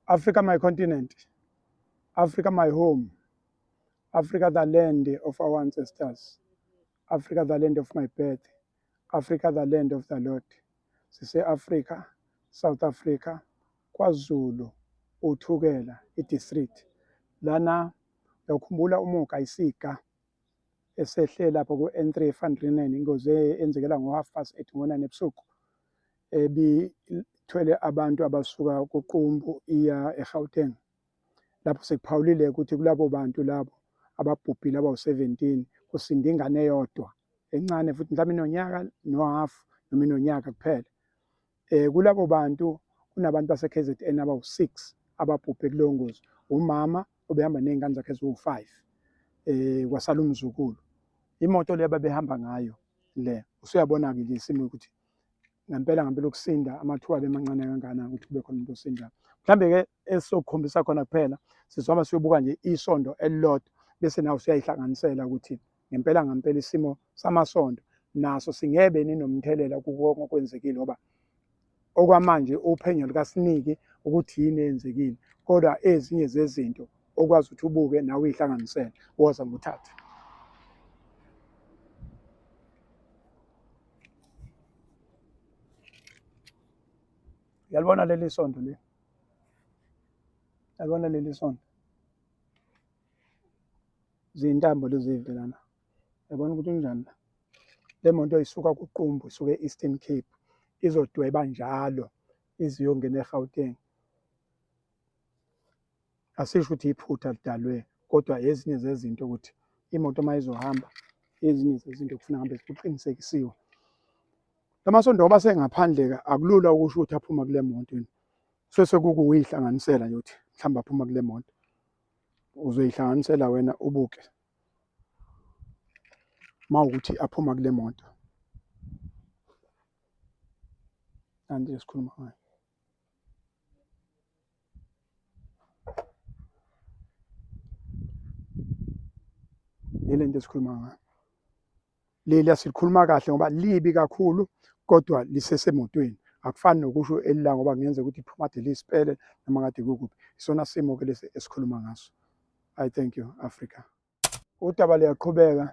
Africa my continent, Africa my home, Africa the land of our ancestors, Africa the land of my birth, Africa the land of the Lord. Sise-Africa, South Africa, KwaZulu, uThukela, i-district. Lana uyawukhumbula umuka isika esehle lapho ku-N3 eFandrinen ingozi eyenzekela ngo-half past eight ngo-nine ebusuku. ebithwele abantu abasuka kuqumbu iya eGauteng lapho sekuphawulile ukuthi kulabo bantu labo ababhubhile abawu-17 kusinda ingane eyodwa encane futhi mhlawumbe inonyaka nohafu noma inonyaka kuphela um kulabo bantu kunabantu base-kz n abawu-six ababhubhe kuleyo ngozi umama obehamba ney'ngane zakhe eziwu-five um kwasala umzukulu imoto le babehamba ngayo le usuyabona-ke nje isimo ukuthi ngempela ngempela ukusinda amathuba abemancane kangana ukuthi kube khona umuntu osindayo mhlambe-ke esizokukhombisa khona kuphela sizohamba siyobuka nje isondo elilodwa bese nawe usuyayihlanganisela ukuthi ngempela ngempela isimo samasondo naso singebe ninomthelela kukonke okwenzekile ngoba okwamanje uphenyo lukasiniki ukuthi yini eyenzekile kodwa ezinye zezinto okwazi ukuthi ubuke nawe uyihlanganisele woza nguthathe yalibona leli sonto le yalibona leli sonto ziyintambo lezi velana yabona ukuthi unjani la le moto isuka kuqumbu isuke e-eastern cape izodweba njalo iziyongena egauteng asisho ukuthi iphutha lidalwe kodwa ezinye zezinto ukuthi imoto uma izohamba ezinye zezinto kufuna hambe kuqinisekisiwe lamasondo oba sengaphandle-ke akulula ukusho ukuthi aphuma kule moto yini sese kukuyihlanganisela yokuthi mhlawumbe aphuma kule moto uzoyihlanganisela wena ubuke uma ukuthi aphuma kule moto nanti esikhuluma ngayo yile nto esikhuluma ngayo leli asilikhuluma kahle ngoba libi kakhulu kodwa lisesemotweni akufani nokusho elila ngoba ngenze ukuthi iphuma kade lisipele noma kade kukuphi isona simo ke lesi esikhuluma ngaso i thank you africa udaba luyaqhubeka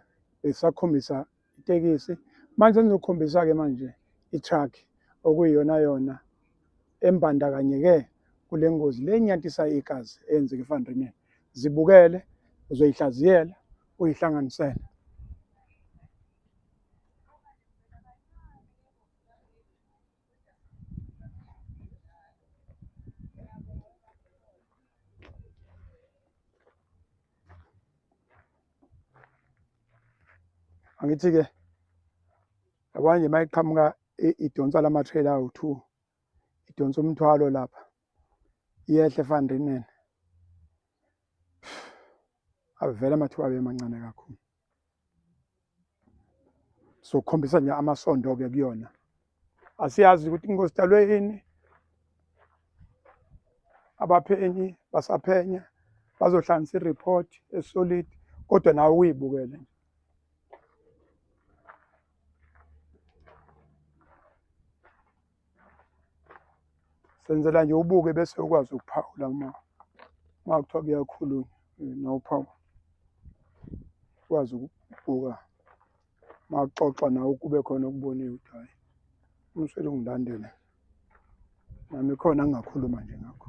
besakhombisa itekisi manje senizokhombisa-ke manje i-truck okuyiyona yona embandakanyeke kule ngozi le enyantisa igazi eyenzeka efandrineni zibukele uzoyihlaziyela uyihlanganisele angithi-ke yabona nje uma iqhamuka idonsa la matrailer awu-two idonsa umthwalo lapha iyehle efanrinene avele amathuba abe mancane kakhulu sokhombisa nje amasondo ke kuyona asiyazi ukuthi inkosi dalwe yini abaphenyi basaphenya bazohlanganisa i-report esolid kodwa nawe uyibukele nje senzela nje ubuke bese ukwazi ukuphawula uma uma kuthiwa kuyakhulunywa eh, nawuphawula ukwazi ukubuka uma kuxoxa nawe kube khona okuboniwe ukuthi hhayi umswele ungilandele nami khona ngingakhuluma nje ngakho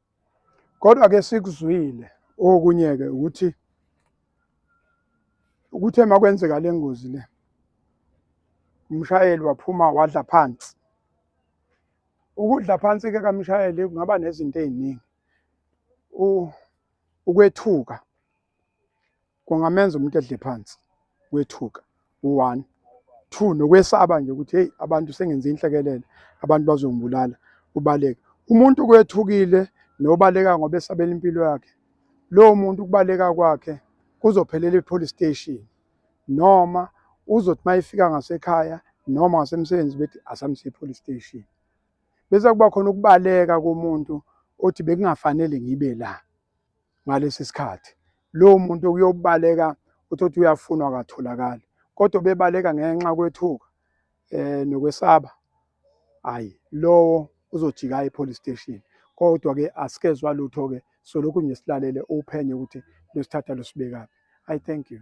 kodwa ke sikuzwile okunye ke ukuthi ukuthe makwenzeka lengozi le umshayeli waphuma wadla phansi ukudla phansi ke kamshayeli kungaba nezinto eziningi ukwethuka kungamenza umuntu edle phansi wethuka one two nokwesaba nje ukuthi hey abantu sengenze inhlekelele abantu bazongibulala ubaleka umuntu kwethukile nobaleka ngoba esabela impilo yakhe lowo muntu ukubaleka kwakhe kuzophelela i-police station noma uzothi uma ifika ngasekhaya noma ngasemsebenzi bethi asamse i-police station bese kuba khona ukubaleka komuntu othi bekungafanele ngibe la ngalesi sikhathi lowo muntu kuyobaleka uthothe uyafunwa akatholakali kodwa bebaleka ngenxa kwethuka eh nokwesaba hayi lowo uzojika epolice station kodwa ke asikezwa lutho ke so lokhu nje silalele uphenye ukuthi losithatha losibekaphi i thank you